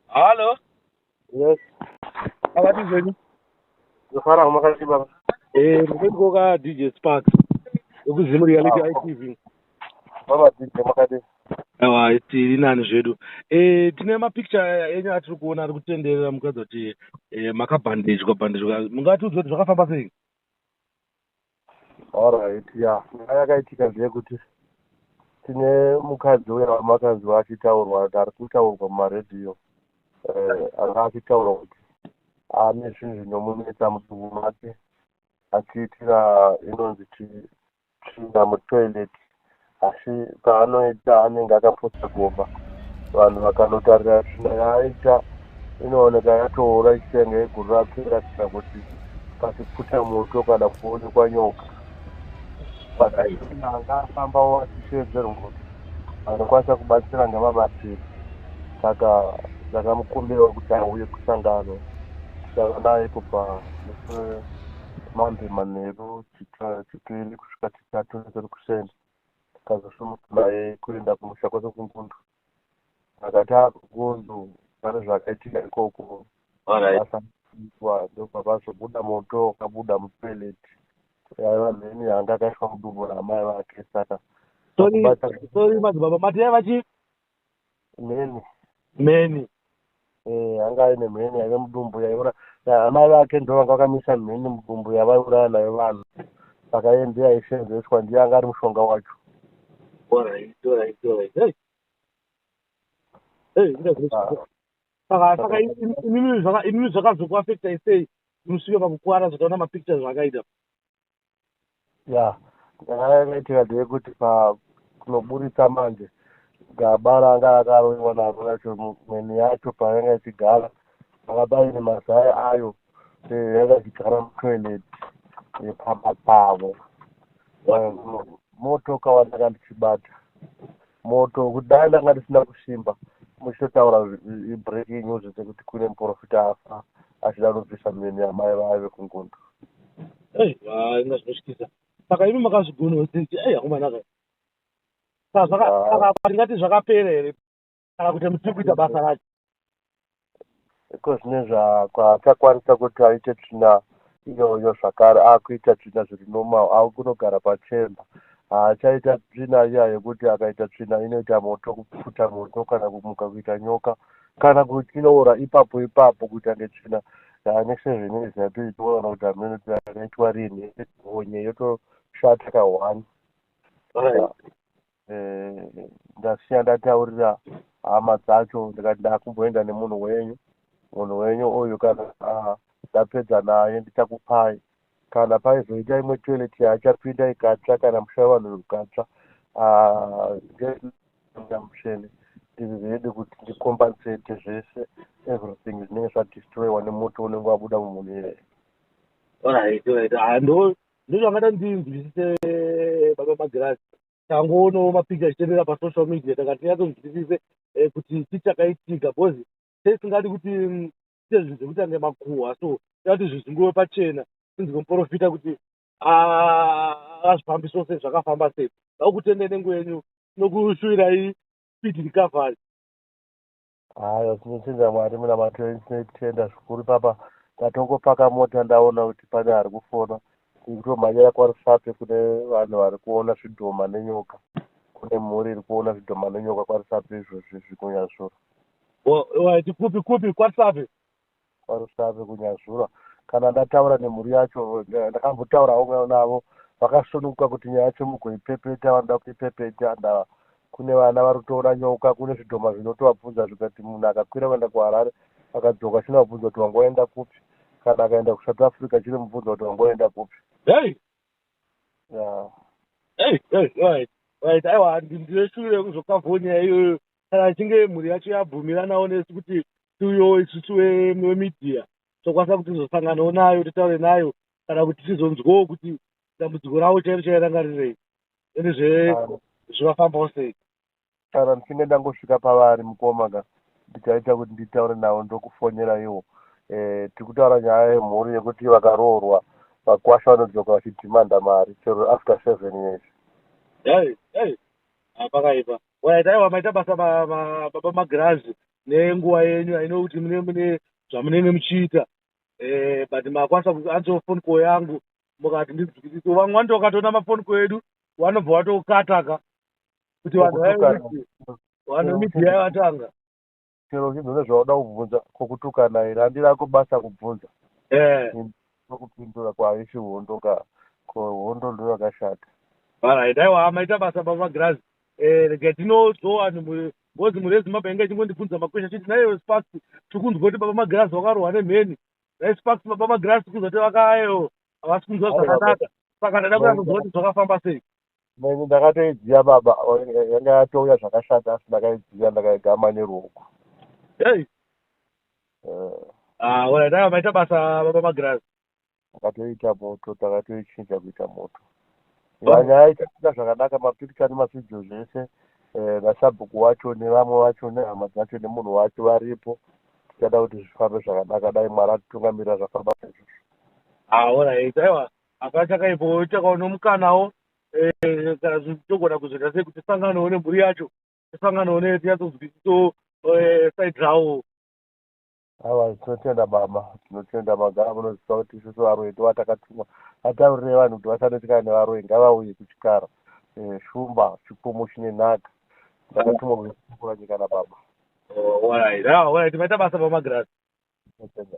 Halo. Yes. Akati zvenyu. Ndofara umakati baba. Eh, ndiko ka DJ Spark. Ukuzimu reality ah, ITV. Baba DJ makati. Awa tiri nani zvedu. Eh, tine ma picture enyu atiri kuona ari kutenderera mukadzi kuti eh makabhandejwa bandejwa. Mungati udzoti zvakafamba sei? Alright yeah nyaya yakaitika ndeyekuti tine mukadzi uya wamakanzwa achitaurwa ari kutaurwa mumaradio eh, anga achitaura kuti ane zvinhu zvinomunetsa mudumbu make achiitira inonzi tsvina mutoilet asi paanoita anenge akapotsa gomba vanhu vakanotarira tsvina yaaita inooneka yatoora ichitenga yeguru rake iratidza kuti pasipfuta moto kana kuonekwa nyoka pakaanga afambawo achisheedzerwa kuti vanokwanisa kubatsira ngavabatsiri saka ndakamukumbira kuti auye kusangano tichava naye kubva mambe manheru chipiri kusvika naTunzi Rukuseni tikazosumuka naye kuenda kumusha kwake kungundu akati ava kungundu pane zvakaitika ikoko asaitwa ndopakazobuda moto wakabuda mutoilet yaiva mheni yanga akaiswa mudumbu ramai vake saka sorry madzibaba mati yaiva chii mheni mheni eh, anga aine mheni yaive mudumbu yaiura amai vake ndo vanga vakamisa mheni mudumbu yavaiuraya nayo vanhu saka iye ndiye aisenzeswa ndiye anga ari mushonga wacho saka inini zvakazokuafectai sei musvike pakukuvara zvataona mapictures zvakaita ya yakaitira ndeyekuti pakunoburitsa manje gaba ranga akaroiwa naro racho mweni yacho payanga ichigara anga paine mazai ayo eh, yanga ichigara mutoilet yepamba pavo motoka wandanga ndichibata Moto kudai ndanga ndisina kusimba muchitotaura breaking news dzekuti kune muporofita afa achida kunobvisa mheni yamai vaive kungundu aiwa inga zvinotyisa saka imi makazvigonawo sisi ai akomana ka saka tingati zvakapera here kana kuti muchiri kuita basa racho because nezvaakakwanisa kuti aite tsvina iyoyo zvakare akuita tsvina zviri normal akunogara pachemba haachaita tsvina iya yekuti akaita tsvina inoita moto kupfuta moto kana kumuka kuita nyoka kana kutinoora ipapo ipapo kuita ngetsvina next seven years yati toona kuti amene yakaitwa rini onye yotoshata ka one ndasiya ndataurira hama dzacho ndikati ndakumboenda nemunhu wenyu munhu wenyu uyu kana ndapedza naye ndichakupai kana paizoita imwe toilet yaachapinda ikatsva kana musha wevanhu ukatsva ngeamusheni ndiri ready kuti ndikompensate zvese everything zvinenge zvadestroyiwa nemoto unenge wabuda mumunhu iyeye ndizvo angada ndinzwisise baba magirazi tangoonawo mapicha achitevera pasocial media takati tinyatsonzwisise eh, kuti chii chakaitika bcause teisingadi kuti mm, tiite zvinhu zvekuti ange makuhwa so tati zvizunguwe pachena tinzi kumuprofita kuti azvifambi sose zvakafamba sei vakutendai nenguva yenyu nokushuvirai speed recovery Haya, tinotenda Mwari munamato wenyu, tinotenda zvikuru papa ndatongopaka mota ndaona kuti pane ari kufona ndikutomhanyira kwarusape kune vanhu vari kuona zvidhoma nenyoka kune mhuri iri kuona zvidhoma nenyoka kwarusape izvozvi zvikunyazvura waiti kupi kupi kwarusape kwaRusave kuNyazurwa. Kana ndataura nemhuri yacho, ndakambotaurawo navo vakasununguka kuti nyaya yacho mugoipepeta, vanoda kuipepeta. Ndava kune vana vari kutoona nyoka, kune zvidhoma zvinotovabvunza zvega kuti munhu akakwira kuenda kuHarare akadzoka chinovabvunza kuti wanga waenda kupi, kana akaenda kuSouth Africa chinomubvunza kuti wanga waenda kupi. Hey! Yeah. Hey, hey, right, right. Aiwa, ndine shuviro yekuzokavhawo nyaya iyoyo kana ichinge mhuri yacho yabvumiranawo nesu kuti tiuyewo isusu vemedia tokwanisa kuti tizosanganewo nayo titaure nayo kana kuti tizonzwawo kuti dambudziko ravo chairo chaiyo ranga rirei ende zve zvivafambawo sei kana ndichinge ndangosvika pavari mukoma ka ndichaita kuti nditaure navo ndokufonyera iwo eh, tiri kutaura nyaya yemhuri yekuti vakaroorwa vakwasha vanodzoka vachidhimanda mari chero after seven years pakaipa waitaiwa maita basa baba magirazi nenguva yenyu i know kuti mune mune zvamunenge muchiita eh, but makwanisa kuansa phone call yangu mukati ndizwisise vamwe vanoti wakatoona mafoni call edu vanobva vatokataka kuti vanhu Kokutukana. vae vanhu Yeah, media yatanga chero uchinzi une zvauda kubvunza kokutukana here handi rako basa kubvunza eh nokupindura kwaisi hondo ka ko hondo ndo yakashata Alright, aiwa maita basa baba Grazi. Eh, rega tinozoa Ngozi mhuri yeZimbabwe yanga ichingondibvunza makwesha ichiti naiyewe Sparks tiri kunzwa kuti baba Magirazi vakarohwa nemheni. Nhai Sparks baba Magirazi tiri kunzwa kuti vakayewo havasi kunzwa zvakanaka saka ndaida kuda kunzwa kuti zvakafamba sei. Neni ndakatoidziya baba yanga yatouya zvakashata asi ndakaidziya ndakaigama neruoko. Hey. Eh. Ah, alright, ah, maita basa baba Magirazi. takatoita moto takatoichinja kuita moto vanya aitaita zvakanaka mapicture nemavideo zvese eh, nasabhuku wacho nevamwe vacho nehama dzacho nemunhu wacho varipo tichada kuti zvifambe zvakanaka dai mwari atitungamirira zvafamba sezvozvo aorit ah, aiwa hapana chakaipo takaona mukanawo eh, kana togona kuzoita sei kuti tisanganawo nemhuri yacho tisanganawo netinyatsoziviso eh, side rawo Awa tinotenda baba, tinotenda magara munoziva kuti isu sevaroyi ndivo atakatumwa ataurirei vanhu kuti vasanetseka nevaroyi ngavauye kuchikara eh, shumba chipfumo chine nhaka ndakatumwa kuzotukura nyika nababa. Oh, alright, ah, alright, maita basa baba Magirasi. Tinotenda.